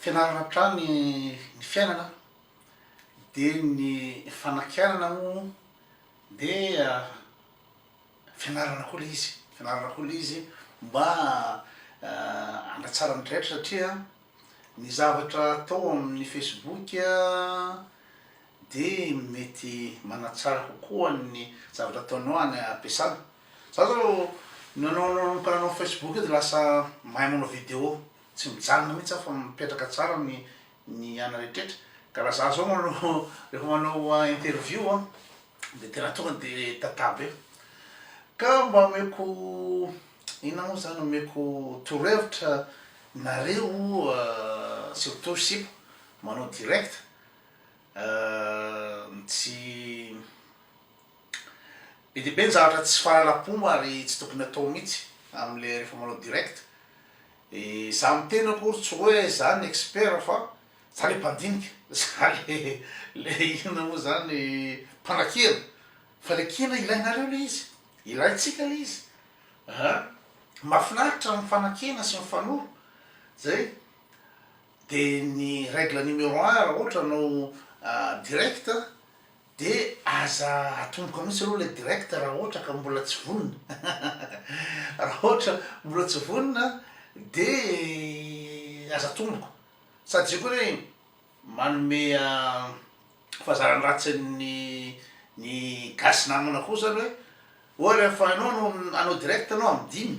Fianarana hatrany ny fiainana dia ny fanakianana moa dia fianarana koa ilay izy, fianarana koa ilay izy mba hanatsarana ny rehetra satria ny zavatra atao amin'ny facebook dia mety manatsara kokoa ny zavatra ataonao any am-piasana. Za zao nanao nanomboka nanao facebook io dia lasa mahay manao video. Tsy mijanona mihitsy aho fa mipetraka tsara ny ny an rehetrretra ka raha za zao manao rehefa manao interview an de tena tonga de tata be ka mba omeko inona moa zany omeko torohevitra nareo surtout sipa manao direct tsy Be dia be ny zavatra tsy fahalalaham-po ary tsy tokony atao mihitsy amin'ilay rehefa manao direct. Izaho ny tenako ry tsy hoe izaho ny expert fa izaho ilay mpandinika, izaho ilay inona moa izany mpanakena. Fa ilay kena ilainareo ilay izy, ilaintsika ilay izy an! Mahafinaritra ny mifanakena sy mifanoro izay. Dia ny règle numéro un raha ohatra ianao direct. De aza atomboka mihitsy aloha le direct raha ohatra ka mbola tsy vonona raha ohatra mbola tsy vonona de aza atomboka sady zay koa hoe manome fahazarana ratsy ny ny gasy namana koa zany hoe ohatra fa enao no hanao direct enao amin'ny dimy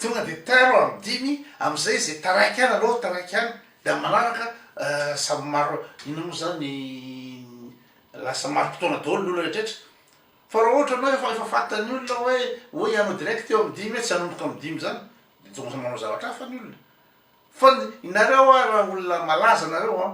Tonga dia telo amby dimy amin'izay izay taraiky any aloha taraiky any dia amin'ny manaraka samy maro inona moa izany lasa marim-potoana daholo ny olona rehetra fa raha ohatra ianao efa efa fantan'ny olona hoe hoy ianao direct eo amin'ny dimy hoe tsy hanomboka amin'ny dimy izany dia tonga saika manao zavatra hafa ny olona fa ny nareo ary olona malaza nareo an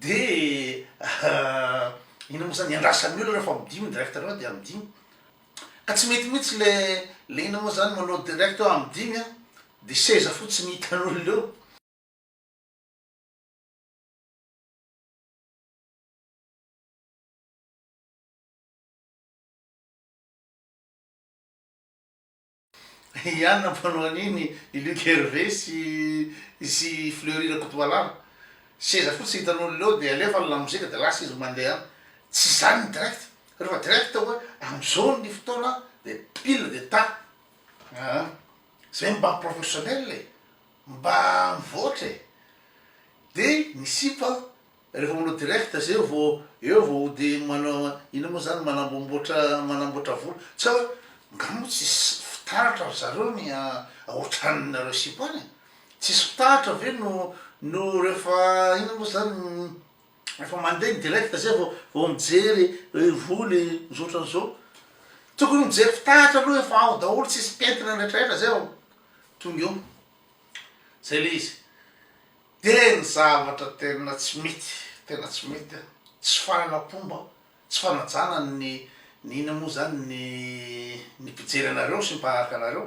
Dia inona moa zany iandrasan'ny olona rehefa midimo direct loha dia midimo? Ka tsy mety mihitsy le le inona moa zany manao direct hoe amidimy a de seza fotsiny hitan'olona eo. I Anna Bonoanini, i Luc Hervé sy sy i Fleury Rakotomalala. Seza fotsiny tsy hitan'olona eo dia alefa ny lamozika dia lasa izy mandeha any. Tsy izany ny direct. Rehefa direct hoe amin'izao ny fotoana dia pile dia ta. Aa izay mba ny professionnel e! Mba mivoatra e! Dia ny sipa Rehefa manao direct zay vao eo vao hody manao inona moa zany manambomboatra manamboatra vola tsy hay hoe nga moa tsisy fitaratra ry zareo ny otran'ny nareo sipa any e? tsisy fitaratra ve no no rehefa inona moa zany rehefa mandeha ny direct zay vao vao mijery hoe voly zao otran'ny zao tokony mijery fitaratra aloha efa ao daholo tsisy pentina ny retraretra zay vao tonga eo zay le izy. Teny zavatra tena tsy mety tena tsy mety a! Tsy fanana mpomba tsy fanajana ny ny inona moa zany ny ny mpijery anareo sy ny mpanaraka anareo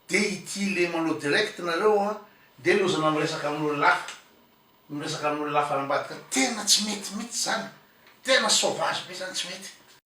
de ity le manao direct nareo a de lozana miresaka amin'olona hafa miresaka amin'olona hafa any ambadika any tena tsy mety mitsy zany tena sauvage be zany tsy mety.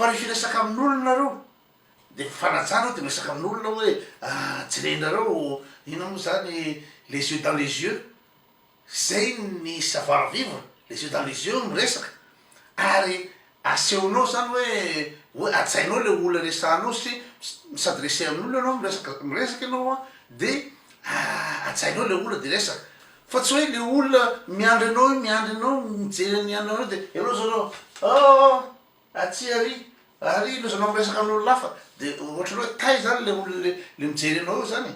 Fa rehefa hiresaka amin'olona nareo dia fanajana eo dia miresaka amin'olona hoe jerenareo inona moa zany les yeux dans les yeux. Izay ny savoir vivre, les yeux dans les yeux miresaka ary asehonao izany hoe hoe hajainao ilay olona resahanao sy mi-s'adresser amin'olona ianao miresaka miresaka ianao an dia hajainao ilay olona dia resaka fa tsy hoe ilay olona miandry anao eo miandry anao mijery ny anao eo dia ianao izao ianao ôôô aty ary ary lozanao miresaka amin'olona hafa dia ohatran'ny hoe tay izany ilay olona ilay mijery anao eo izany e!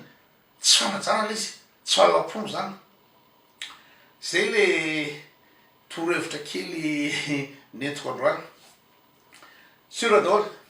Tsy fanajana ilay izy, tsy fahalam-pomba izany. Izay le torohevitra kely nentiko androany. Sur daholo.